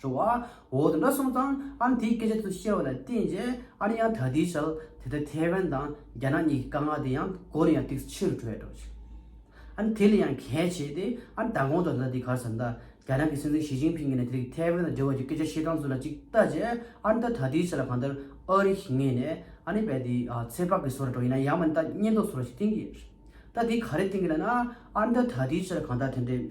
འགྲོ་བ་འོག་ཏུ་འདྲ་གསུངས་ཙང་ཨ་ནི་དེའི་སྐད་ཆ་དུ་བཤད་པ་ལ་བརྟེན་རྗེས་ཨ་ནི་ཡང་དག་དེའི་ཞལ་དེ་ལྟར་ཐའེ་ཝན་དང་རྒྱ་ནག་གཉིས་ཀྱི་དཀའ་ངལ་དེ་ཡང་མགོ་ནས་ཡང་ཏིག་ཕྱི་རུ་བྲོས་འགྲོ་ཞིང། ཨ་ནི་དེ་ལས་ཡང་གལ་ཆེ་སྟེ་ཨ་ནི་ད་གོང་དུ་ད་ལྟ་དེ་གར་ཟ་འདྲ་རྒྱ་ནག་གི་སྲིད་འཛིན་ཞི་ཅིང་ཕིང་གིས་ནས་དེ་རིགས་ཐའེ་ཝན་དང་འབྲེལ་བ་ཀྱི་སྐད་ཆ་བཤད་སྟངས་ཚུལ་ལ་ཅིག་ལྟ་རྗེས་ཨ་ནི་ད་ད་དེའི་ཞལ་ལ་གང་ལྟར་ཨོ་རི་ཞིག་ངེས་ནས་ཨ་ནི་བས་དེའི་ཚེ་དཔག་གི་བཟོ་ར་འགྲོ་ཡིན་ན་ཡང་མ་ནི་ད་བསྙད་འདོགས་བཟོ་ར་ཞིག་བཏིང་གི་རེད། ད་དེ་ག་རེ་བཏིང་གི་ལ་ན་ཨ་ནི་ད་ད་དེའི་ཞལ་ལ་གང་ལྟར་དེ་འདྲའི།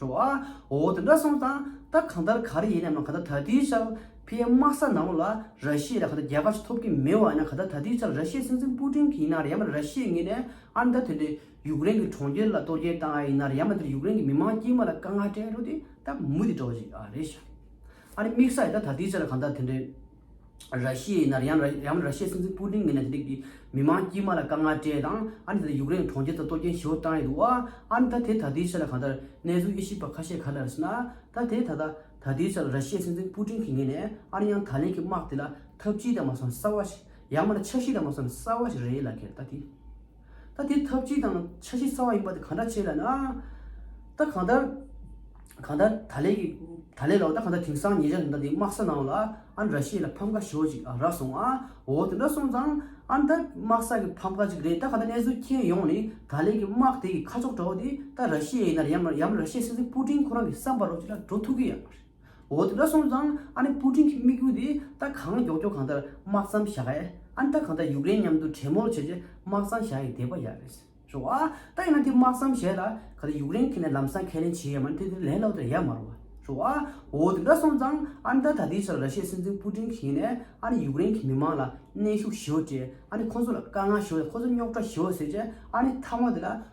རོ། འོ་དེ་འདྲ་སོང་ཙང་ད་གང་ལྟར་ག་རེ་ཡིན་སྙམ་ན་ག་ད་ད་དུས་ཆར་ཕའི་དམག་ས་ནང་ལ་ར་ཤི་ཡས་ལ་ག་ད་རྒྱལ་ཁ་ཞིག་ཐོབ་ཀྱི་མི་བ་ན་ག་ད་ད་དུས་ཆར་ར་ཤི་ཡས་སྲིད་འཛིན་པུ་ཀྲིན་གྱི་ཡིན་ན་རེ་ཡ་མ་ར་ཤི་ཡས་ངེད་ནས་ཨར་མདའ་ཐོན་ཏེ་ཡུཀ་རེན་གྱི་གྲོང་ཁྱེར་ལ་གཏོར་སྐྱེལ་བཏང་ཨ་ཡིན་ན་རེ་ཡ་མ་འདིར་ཡུཀ་རེན་གྱི་མི་དམངས་དཀྱིལ་མ་ལ་དཀའ་ངལ་སྤྲད་འགྲོ་དེ་ད་མུ་དེ་འགྲོ་བ་ཞིག་ཨ་རེད་ཤ་རེད། ཨ་རེ་དམིགས་ས་ཡིན་ད་ད་དུས་ཆར་གང་ལྟར་དེ་འདྲའི། ར་ཤི་ཡའི་ནར་ཡང་ཡམ་ར་ཤི་ཡའི་སྲིད་འཛིན་པུ་ཏིན་གྱིས་ནས་དེ་རིགས་ཀྱི་མི་མང་དཀྱུས་མ་ལ་དཀའ་ངལ་སྤྲད་དང་ཨ་ནི་དེ་དག་ཡུཀ་རེན་གྱི་གྲོང་ཁྱེར་དུ་གཏོར་སྐྱོན་ཞི་བོ་བཏང་ཡོད་འདུག་ཨ་ནི་ད་དེ་ད་ལྟའི་ཆར་ལ་གང་ལྟར་གནས་ཚུལ་དབྱེ་ཞིབ་པ་ཁ་ཤས་ག་ལ་རེད་ཟེར་ན། ད་དེ་ད་ལྟ་ད་ལྟའི་ཆར་ར་ཤི་ཡའི་སྲིད་འཛིན་པུ་ཏིན་གྱི་ངོས་ནས་ཨ་ནི་ཡང་ད་ལན་གྱི་དམག་དེ་ལ་ཐབས་ཅི་དང་མ་སོན་གསར་བ་ཞིག་ཡང་མ་ན་ཆབ་སྲིད་དང་མ་སོན་གསར་བ་ཞིག་རེད་ལ་ཁེར་ད་དེ། ད་དེ་ཐབས་ཅི་དང་ཆ་ཤས་གསར་བ་ཡིན་པ་དེ་གང་འདྲ་བྱས་ལ་ན། ད་གང་ལྟར། གང་ལྟར་ད་ལས་ཀྱི། ད་ལས་ལའོ་ད་གང་ལྟར་དེང་སང་ངེད་ཅག་གི་ཟླ་འདིའི་དམག་ས་ནའོ་ལ་ཨ་ན་ར་ཤི་ཡའི་ལ་ཕམ་ཁ་ཞོག་ཅིག་ཨ་རག་སོང་ཨ་འོ་དེ་འདྲ་སོང་ཙང་ཨ་ན་ད་དམག་ས་ཀྱི་ཕམ་ཁ་ཅིག་རེད་ད་གང་ལྟར་གནས་ཚུལ་མཁྱེན་ཡོང་ནི་ད་ལས་ཀྱི་དམག་དེ་གི་ཁ་ཕྱོགས་འདྲ་བོ་དེ་ད་ར་ཤི་ཡའི་ཡིན་ན་ཡམ་ཡམ་ར་ཤི་ཡའི་སྲིད་འཛིན་པུ་ཏིན་ཁོ་རང་གི་བསམ་པ་རོ་ཅིག་ལ་འགྲོ་ཐུབ་ཀྱི་ཡ་མ་རེད། འོ་དེ་འདྲ་སོང་ཙང་ཨ་ནི་པུ་ཀྲིན་གྱི་དམིགས་ཡུལ་དེ་ད་གང་མགྱོགས་མགྱོགས་གང་ལྟར་དམག་མཚམས་བཞག་ཨེ་ཨ་ནི་ད་གང་ལྟར་ཡུཀ་རེན་མཉམ་དུ་གྲེས་མོལ་བྱས་རྗེས་དམག་མཚམས་བཞག་ཡས་དེ་པ་ཡག་རེད། ཞོ་ཨ་ད་ཡིན་ན་དེ་དམག་མཚམས་བཞེས་ལ་ག་ད་ཡུཀ་རེན་གྱི་ནས་ལམ་སང་ཁས་ལེན་བྱེད་ཡས་མ་ནི་དེ་དེ་ལས་ལོག་དེར་ཡས་མ་རོ། ཞོ་ཨ་འོ་དེ་འདྲ་སོང་ཙང་ཨ་ནི་ད་ད་ལྟའི་ཆར་ར་ཤེས་སྲིད་འཛིན་པུ་ཀྲིན་གྱིས་ནས་ཨ་ནི་ཡུཀ་རེན་གྱི་མི་མང་ལ་གནས་ཤུགས་ཞུ་ཨ་ནི་ཁོང་ཚོ་ལ་དཀའ་ངལ་ཞུ་ཨ་ཁོང་ཚོ་རྙོག་དྲ་ཞུ་ཨ་ཟེར་རྗེས་ཨ་ནི་མཐའ་མ་དེ་ལ་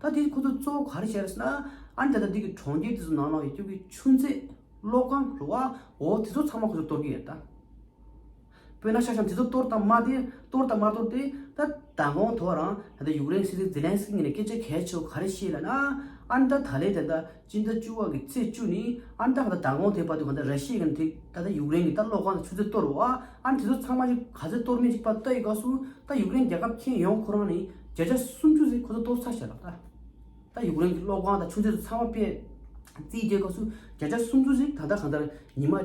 ད་དེ་ཁོ་ཚོ་གཙོ་བོ་ག་རེ་བྱས་རེད་ཟེར་ན། ཨ་ནི་ད་ལྟ་འདི་གི་གྲོང་ཁྱེར་དེ་ཚོ་ནང་ན་ཡོད་ཀྱི་གི་ཆུ་མཛོད། གློག་ཁང། རུ་བ། འོ་དེ་ཚོ་ཚང་མ་ཁོ་ཚོས་གཏོར་གྱི་ཡོད་ད། བོད་ན་ཤག་ཤང་དེ་ཚོ་གཏོར་དང་མ་དེ་གཏོར་དང་མ་གཏོར་དེ། ད་ད་གོང་ཐོག་རང་ད་ལྟ་ཡུཀ་རེན་སྲིད་འཛིན་ཛེ་ལན་སི་ཀི་ནས་སྐད་ཆ་གས་ཆོག་ག་རེ་བཤད་ལ་ན། ཨ་ནི་ད་ད་ལས་དེ་ད་སྤྱི་ཟླ་བཅུ་བ་གི་ཚེས་བཅུ་ནི་ཨན་རྟ་གང་དུ་དྲག་དགོངས་ཐེབས་པ་དུས་གང་དུ་ར་ཤི་ཡ་གན་དེ་ད་ལྟ་ཡུག་རེན་གི་ལྟ་ཀློག་ཁང་དུ་ཆུ་ཚོད་གཏོར་བ་ཨན་དེ་ཚོ་ཚང་མ་ཞིག་ག་ཚོད་གཏོར་མིན་ཅིག་པ་ལྟ་ཡི་སྐབས་སུ་ད་ཡུག་རེན་རྒྱལ་ཁབ་ཁྱེན་ཡོང་ཁོ་རང་ནི་བརྒྱ་ཆ་སུམ་ཅུ་ཟིག་ཁོ་ཚོ་གཏོར་ཚར་བཤད་ལགས་ད་ད་ཡུག་རེན་གི་ཀློག་ཁང་དང་ཆུ་ཚོད་དུ་ཚང་མ་པེ་རྩིས་རྒྱལ་སྐབས་སུ་བརྒྱ་ཆ་སུམ་ཅུ་ཟིག་ད་ལྟ་གང་ལྟར་ཉི་མ།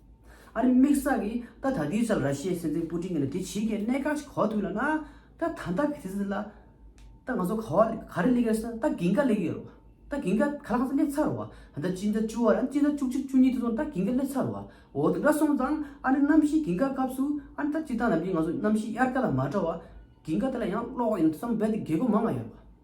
ཨ་རིའི་དམིགས་བསལ་གྱི་ད་ད་དུས་ཙམ་ར་ཤི་ཡའི་སྲིད་འཛིན་པུ་ཏིན་གྱི་ལ་དེ་བྱིས་ཀྱི་གནད་འགག་ཅིག་གོ་ཐུག་ལ་ན། ད་ད་ད་གི་དུས་ཚོད་འདི་ལ། ད་ང་ཚོ་ག་བ་ག་རེ་གླེགས་ཡོད་ས་ད་གིང་ཀ་གླེགས་ཡོད་རོ། ད་གིང་ཀ་ག་ལ་གང་ས་གླེགས་ཚར་རོ། ད་ད་སྤྱི་ཟླ་བཅུ་བ་ར་སྤྱི་ཟླ་བཅུ་གཅིག་བཅུ་གཉིས་དུས་ཚོད་ད་གིང་ཀ་གླེགས་ཚར་རོ། འོ་དེ་འདྲ་སོང་ཙང་ཨ་རིའི་གནམ་གཤིས་གིང་ཀ་སྐབས་སུ་ཨ་རི་ད་སྤྱི་ད་ནམ་གྱི་ང་ཚོ་གནམ་གཤིས་དབྱར་ཀ་ལ་མ་འགྲོ་བ། གིང་ཀ་དེ་ལ་ཡང་གློག་ཡང་ཙམ་རྦད་དེ་རྒས་གོ་མང་ང་ཡོད་རོ།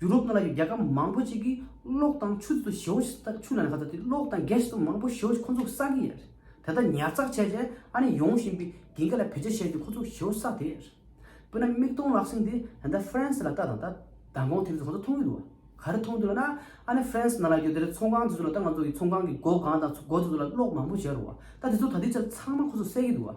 ཡུ་རོབ་ནང་ལ་ཡོད་རྒྱལ་ཁབ་མང་པོ་ཅིག་གིས་གློག་དང་ཆུ་དེ་ཚོ་ཞེ་བོ་ཞིག་ཆུ་ལ་ནས་ཁ་ཚ་དེ་གློག་དང་གས་དེ་ཚོ་མང་པོ་ཞེ་བོ་ཞིག་ཁོ་ཚོ་བསགས་ཀྱི་ཡོད་རེད་དེ་དག་ཉར་ཚགས་བྱས་རྗེས་ཨ་ནི་ཡོང་བཞིན་པའི་རྒྱལ་ཁབ་ལ་བེད་སྤྱོད་བྱས་རྗེས་ཁོ་ཚོ་ཞེ་བོ་བསགས་དེ་ཡོད་རེད། དཔེར་ན་མིག་སྟོང་ལག་ཟིན་དེ་ད་ལྟ་ཧྥ་རན་སི་ལ་ལྟ་དང་ད་ད་གོང་དེ་ཚོ་ཁོ་ཚོ་མཐོང་གི་འདུག་ག་ག་རེ་མཐོང་འདུག་ལ་ན་ཨ་ནི་ཧྥ་རན་སི་ནང་ལ་ཡོད་དེ་རེད་ཚོང་ཁང་དེ་ཚོ་ལ་ལྟ་ང་ཚོ་གིས་ཚོང་ཁང་གི་སྒོ་གང་དང་སྒོ་དེ་ཚོ་ལ་གློག་མང་པོ་བྱས་རོགས་ད་དེ་ཚོ་ད་དེ་ཚོ་ཚང་མ་ཁོ་ཚོ་བསད་ཀྱི་འདུག་ག།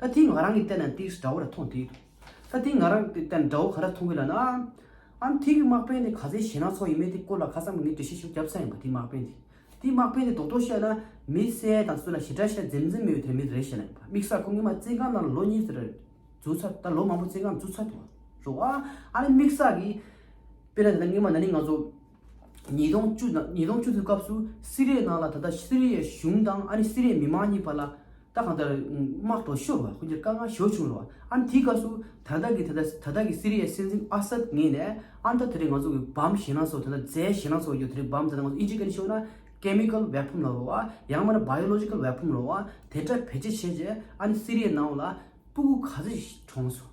ད་དེ་ང་རང་གིས་བལྟས་ན་ཏིག་སྒྲ་བོ་ར་མཐོང་དུས། ད་དེ་ང་རང་གིས་བལྟས་ན་སྒྲ་བོ་ག་ར་མཐོང་གི་ལ་ན། ཨཱ། དེ་གི་དམག་དཔོན་དེ་ག་ཚེ་གཞས་སྣ་ཚོགས་ཡིན་མོད་དེ་སྐོར་ལ་ཁ་སང་ངས་འགྲེལ་བཤད་ཤིག་བརྒྱབ་ས་ཡིན་པ་དེའི་དམག་དཔོན་དེ། དེའི་དམག་དཔོན་དེ་རྡོག་རྡོག་བཤད་ན། མི་གསལ་དང་སུ་ལ་ཞེ་དྲག་བཤད་འཛེམ་འཛེམ་མི་ཡོད་དེ་ར་མི་དེ་རེད་བཤད་ན་ཡིན་པ་དམིགས་བསལ་ཁོ་ངེད་མ་བཙན་ཁང་ནང་ལ་ལོ་གཉིས་ཟེར་ར་བརྫུ་ཚར་ད་ལོ་མང་པོ་བཙན་ཁང་བརྫུ་ཚར་འདུག་བ་རོགས་ཨཱ། ཨཱ་ནི་དམིགས་བསལ་གིས། དཔེར་ན་དེ་ད་ངེད་མ་ན་ནིང་ང་ཚོ། ཉིས་སྟོང་བཅུ་དགུའི་སྐབས་སུ་སི་རེའི་ནང་ལ་ད་ལྟ་སི་རེ་ཡའི་གཞུང་དང་ཨ་ནི་སི་རེའི་མི་མང་གཉིས་བར་ལ་ད་གང་ལྟར་དམག་གྲོགས་ཤོར་བ་ཁོ་གཉིས་ཀྱི་དཀའ་ངལ་ཞོར་བྱུང་རུང་ཨ་ནི་དེའི་སྐབས་སུ་ད་ལྟ་གི་ད་ལྟ་གི་སི་རེ་ཡའི་སྲིད་འཛིན་ཨ་སད་ངེས་ནས་ཨ་ནི་ད་དེ་རིང་ང་ཚོ་གི་བམ་ཞེད་སྣང་སོགས་ད་ལྟ་རྫས་ཞེད་སྣང་སོགས་ཡོད་དེ་རིང་བམ་ད་ལྟ་ང་ཚོ་ཨི་ཇི་ཀ་ནས་ཤོར་ན་ཀེ་མི་ཀལ་བེ་ཕོམ་ལ་རོ་བ་ཡང་མ་ན་བྷ་ཡོ་ལོ་ཇི་ཀལ་བེ་ཕོམ་ལ་རོ་བ་དེ་འདྲ་བེད་སྤྱད་བྱས་རྗེས་ཨ་ནི་སི་རེའི་ནང་ལ་སྤུ་གུ་ག་ཚོད་ཞིག་གྲོངས་སོང།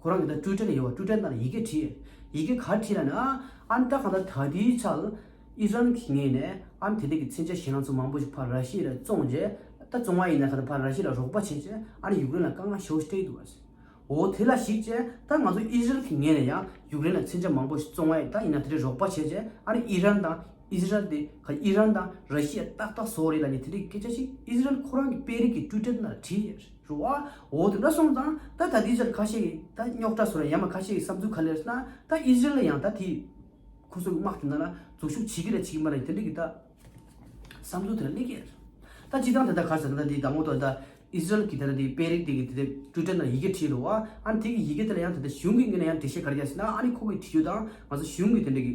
ཁོ་རང་གི་ད་ཀྲུའུ་ཏྲེ་ལ་ཡོད་པ་ཀྲུའུ་ཏྲེ་ནང་ཡི་གེ་བྲིས། ཡི་གེ་གར་བྲིས་ལ་ནི་ཨ་ཨན་ཏཱ་གང་ལ་ད་དེའི་ཆ་ལ་ཨི་རན་གྱིས་ངེས་ནས་ཨ་ཨན་དེ་དག་གི་ཚན་ཆ་གཞན་རང་ཚོ་མང་པོ་ཞིག་ཕར་ར་ཤི་ཡ་ལ་བཙོངས་རྗེས་ད་བཙོང་བ་ཡིན་ན་གང་ལྟར་ཕར་ར་ཤི་ཡ་ལ་རོགས་པ་བྱས་རྗེས་ཨ་ནི་ཡུག་རེན་ལ་དཀའ་ངལ་ཞོག་སྟེ་འདུག་ཨ་འོ་དེ་ལ་ཞིག་ཅེས་ད་ང་ཚོ་ཨི་རན་གྱིས་ངེས་ནས་ཡང་ཡུག་རེན་ལ་ཚན་ཆ་མང་པོ་ཞིག་བཙོང་བ་ཡིན་ད་ཡིན་ན་དེ་འདྲའི་རོགས་པ་བྱས་རྗེས་ཨ་ནི་ཨི་རན་དང་ཨི་ཟི་རལ་དེ་ག་ཨི་རན་དང་ར་ཤི་ཡ་ཏག་ཏག་བཟོ་རེད་ལ་ནི་དེ་འདྲའི་སྐད་ཆ་ཞིག་ཨི་ཟི་རལ་ཁོ་རང་གི་དཔེ་རིས་ཀྱི་ཀྲུའུ་ཏྲེ་ནང་ལ་བྲིས། རུ་བ། འོ་དེ་འདྲ་སོང་ཙང་ད་ད་དེའི་ཕྱིར་ཁ་ཤས་ཀྱིས་ད་རྙོག་གྲ་སོ་ར་ཡ་མ་ཁ་ཤས་ཀྱིས་བསམ་ཚུལ་ག་ལེར་ན་ད་ཨི་ཟི་རལ་ལ་ཡང་ད་དེ་ཁོ་ཚོའི་དམག་དེ་ན་ལ་འཛུགས་ཤུགས་བྱེད་ཀྱི་ར་བྱེད་ཀྱི་མ་ར་ཡིན་དེ་འདྲ་གི་ད་བསམ་ཚུལ་དེ་ར་གླེང་གི་རེད། ད་སྤྱི་བཏང་དེ་ད་ག་ཟེར་ན་ད་དེའི་ད་ངོ་ཏོག་ད་ཨི་ཟི་རལ་གྱི་ད་ན་དེའི་དཔེ་རིགས་དེ་གི་དེ་ད་དྲུ་ཏྲེ་ན་ཡི་གེ་བྲིས་རུ་བ། ཨ་ནི་དེ་གི་ཡི་གེ་དེ་ལ་ཡང་དེ་ད་གཞུང་གི་ངོས་ན་ཡང་འགྲེལ་བཤད་ག་ར་རྒྱག་ཟེར་ན་ཨ་ནི་ཁོ་གི་བྲིས་རྒྱུ་དང་ང་ཚོ་གཞུང་གི་དེ་འདྲ་གི།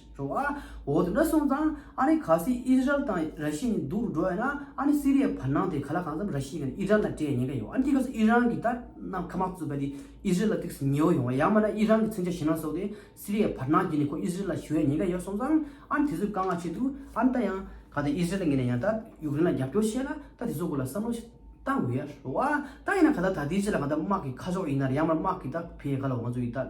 འགྲོ་བ། འོ་དེ་འདྲ་སོང་ཙང་ཨ་ནི་ག་སི་ཨི་ཟི་རལ་དང་ར་ཤི་ནི་འདུག་འགྲོ་བ་ཡིན་ན་ཨ་ནི་སི་རི་ཡའི་བར་སྣང་དེ་ག་ལ་གང་འཚམ་ར་ཤི་གིས་ཨི་རན་ལ་སྤྲད་ཉེན་ཀ་ཡོད་ཨ་ནི་དེ་ག་སི་ཨི་རན་གིས་ད་ནམ་ཁ་མ་བཙུད་པ་དེ་ཨི་ཟི་རལ་ལ་ཏིག་སི་ཉེ་བོ་ཡོང་བ་ཡང་མ་ན་ཨི་རན་གི་མཚོན་ཆ་ཞིང་ནང་སོགས་དེ་སི་རི་ཡའི་བར་སྣང་བརྒྱུད་ནས་ཁོ་ཨི་ཟི་རལ་ལ་ཞུ་བའི་ཉེན་ཀ་ཡོད་སོང་ཙང་ཨ་ནི་དེ་ཚོས་དཀའ་ངལ་ཆེ་འདུག་ཨ་ནི་ད་ཡང་ག་ད་ཨི་ཟི་རལ་ལ་ངེད་ནས་ཡང་ད་ཡུག་རེན་ལ་རྒྱབ་སྐྱོར་བྱེད་ལ་ད་དེ་ཚོ་སྐོར་ལ་བསམ་བློ་བཏང་དགོས་ཡ་རོ། ད་ཡིན་ན་ག་ད་ད་ཏི་ཟི་རལ་ལ་ང་ད་དམག་གི་ཁ་ཕྱོགས་ཡིན་ན་རེད་ཡང་མ་ན་དམག་གིས་ད་བེད་ཡ་ག་ལ་འོང་ཚོད་ཡིན་ད།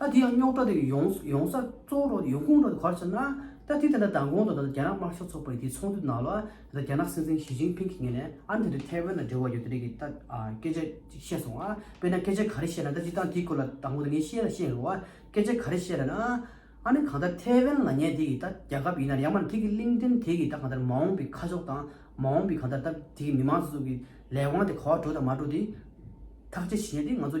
ད་དེ་ཡང་རྙོག་དྲ་དེ་ཡོངས་ཡོང་ས་གཙོ་བོ་རོ་ཡོང་ཁུངས་རོ་གར་བྱས་ན། ད་དེ་དེ་འདྲ་མདང་དགོང་དང་ད་རྒྱ་ནག་དམར་ཤོག་ཚོགས་པ་རིགས་དེའི་ཚོགས་འདུ་ནང་ལ་ད་རྒྱ་ནག་སྲིད་འཛིན་ཞི་ཅིང་ཕིང་གི་ངེས་ནས་ཨ་ནི་དེ་འདྲའི་ཐའེ་ཝན་ལ་འབྲེལ་བ་ཡོད་དེ་རིགས་ཀྱི་ད་སྐད་ཆ་ཅིག་བཤད་སོང་ཨ་དཔེར་ན་སྐད་ཆ་ག་རེ་བཤད་ན་ད་སྤྱི་སྟངས་དེའི་སྐོར་ལ་དང་པོ་དེ་ངས་ཤེས་ན་ཤེས་རོགས་ཨ་སྐད་ཆ་ག་རེ་བཤད་ལ་ན། ཨ་ནི་གང་ལྟར་ཐའེ་ཝན་ལ་ངས་དེ་གི་ད་རྒྱ་ཁབ་ཡིན་ནར་ཡང་མ་ནི་དེ་གི་གླིང་ཕྲན་དེ་གི་ད་གང་ལྟར་མ་འོངས་པའི་ཁ་ཕྱོགས་དང་མ་འོངས་པའི་གང་ལྟར་ད་དེ་གི་མི་མང་སོ་སོ་གི་ལས་དབང་དེ་ག་བ་འགྲོ་དང་མ་འགྲོ་དེ་ཐག་བཅད་བྱེད་ནས་དེ་ང་ཚོ་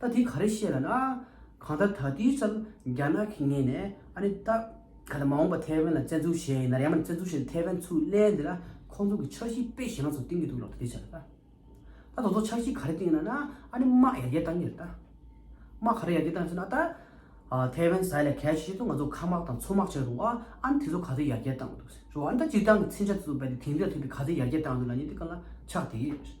ད་དེ་ག་རེ་བཤད་ལ་ན། གང་ལྟར་ད་དུས་ཙམ་རྒྱ་ནག་གི་ངེས་ནས་ཨ་ནི་ད་ག་ལ་མ་འོངས་པ་ཐའེ་ཝན་ལ་བཙན་འཛུལ་བྱེད་ཡིན་ན་ར་ཡང་མ་བཙན་འཛུལ་བྱས་ཏེ་ཐའེ་ཝན་ཚུར་གླན་དེ་ན་ཁོང་ཚོ་གི་འཆར་གཞི་དཔེ་གཞན་ལ་ཚོ་བཏིང་གི་འདུག་ལབ་ཏུ་དེ་བྱས་ལ་ད། ད་དོ་ཚོ་འཆར་གཞི་ག་རེ་བཏིང་ཡིན་ན་ན་ཨ་ནི་དམག་ཡར་རྒྱས་བཏང་གི་རེད་ད། དམག་ག་རེ་ཡར་རྒྱས་བཏང་ཡིན་ཟེར་ན་ད། ཐའེ་ཝན་ཟས་ལས་གལ་ཆེ་ཤོས་ཏུ་ང་ཚོ་མཁའ་དམག་དང་མཚོ་དམག་བྱས་འདུག་ཨ་ཨ་ནི་དེ་ཚོ་ག་ཚོད་ཡར་རྒྱས་བཏང་འདུག་ཟེར་རོ་ཨ་ནི་ད་སྤྱིར་བཏང་གི་ཚིག་འཆལ་དེ་ཚོ་རྦད་དེ་དེང་དུས་ལ་ཐུག་སྟེ་ག་ཚོད་ཡར་རྒྱས་བཏང་འདུག་ལ་ནི་དེ་ག་ལ་ཆགས་དེ།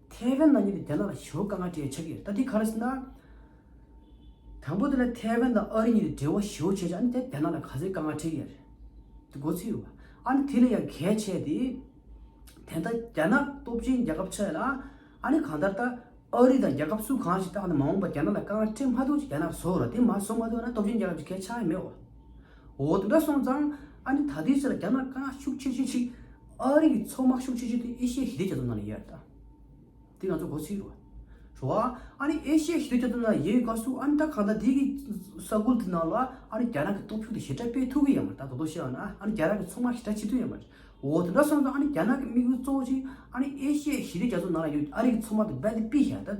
ཐའེ་ཝན་ནང་ཉིད་དུ་རྒྱ་ནག་ལ་ཞི་བ་དཀའ་ངལ་སྤྲད་ཆགས་ཀྱི་ད་ལྟའི་ཁ་རེ་ཟིན་ན། དང་པོ་དེ་ལ་ཐའེ་ཝན་དང་ཨ་རི་ཉིད་དུ་འབྲེལ་བ་ཞི་བོ་བྱས་ཆགས་ཨ་ནི་དེ་རྒྱ་ནག་ལ་ག་ཚོད་དཀའ་ངལ་འཕྲད་ཀྱི་རེད། དེ་མགོ་ཚོས་ཡོད། ཨ་ནི་དེ་ལས་ཡང་གལ་ཆེ་དེ། དེ་ལྟ་རྒྱ་ནག་སྟོབས་ཆེན་རྒྱལ་ཁབ་ཆགས་ཡོད་ན། ཨ་ནི་གང་ལྟར་ད། ཨ་རི་དང་རྒྱལ་ཁབ་སུ་གང་ཞིག་ཏུ་ཨ་ནི་མ་འོངས་པར་རྒྱ་ནག་ལ་དཀའ་ངལ་སྤྲད་མ་ཐུབ་ཅིག་རྒྱ་ནག་བཟོ་འོ་ན་དེ་མ་བཟོ་མ་ཐུབ་ན་སྟོབས་ཆེན་རྒྱལ་ཁབ་ཅིག་གལ་ཆགས་ཡོད་མེད་འོ། འོ་དེ་འདྲ་སོང་ཙང་ཨ་ནི་ད་ལྟའི་ཆར་རྒྱ་ནག་དཀའ་ངལ་ཤུགས་ཆེ་ཆེ་ཆེ། ཨ་རི་ཡི་ཚོགས་དམག་ཤུགས་ཆེ་ཆེ་དེ་ཨེ་ཤི་ཡའི་ཞི་བདེ་རྒྱ་མཚོ་ནང་ལ་ཡོད་ད། དེ་ང་ཚོ་གོ་ཚིག་རེད། བྱུང་བ། ཨ་ནི་ཨེ་ཤི་ཡའི་ཞི་བདེ་རྒྱ་མཚོ་ནང་ཡོད་དཀའ་སུ་ཨ་ནི་ད་གང་ལྟར་དེ་གི་ས་ཁུལ་དེ་ནང་ལ་ཨ་ནི་རྒྱ་ནག་གི་སྟོབས་ཤུགས་དེ་ཞི་དྲག་སྤེལ་ཐུབ་གི་ཡོད་མ་རེད་ད་དོ་དོ་ཤེས་པ་ན་ཨ་ནི་རྒྱ་ནག་གི་ཚོགས་དམག་ཞི་དྲག་བྱེད་ཐུབ་ཡོད་མ་རེད། འོ་དེ་འདྲ་སོང་ཙང་ཨ་ནི་རྒྱ་ནག་གི་དམིགས་ཡུལ་གཙོ་བོ་ཆེ་ཨ་ནི་ཨེ་ཤི་ཡའི་ཞི་བདེ་རྒྱ་མཚོ་ནང་ལ་ཡོད་ཨ་རི་གི་ཚོགས་དམག་དེ་འབད་དེ་སྤེལ་ཞེས་པ་ད།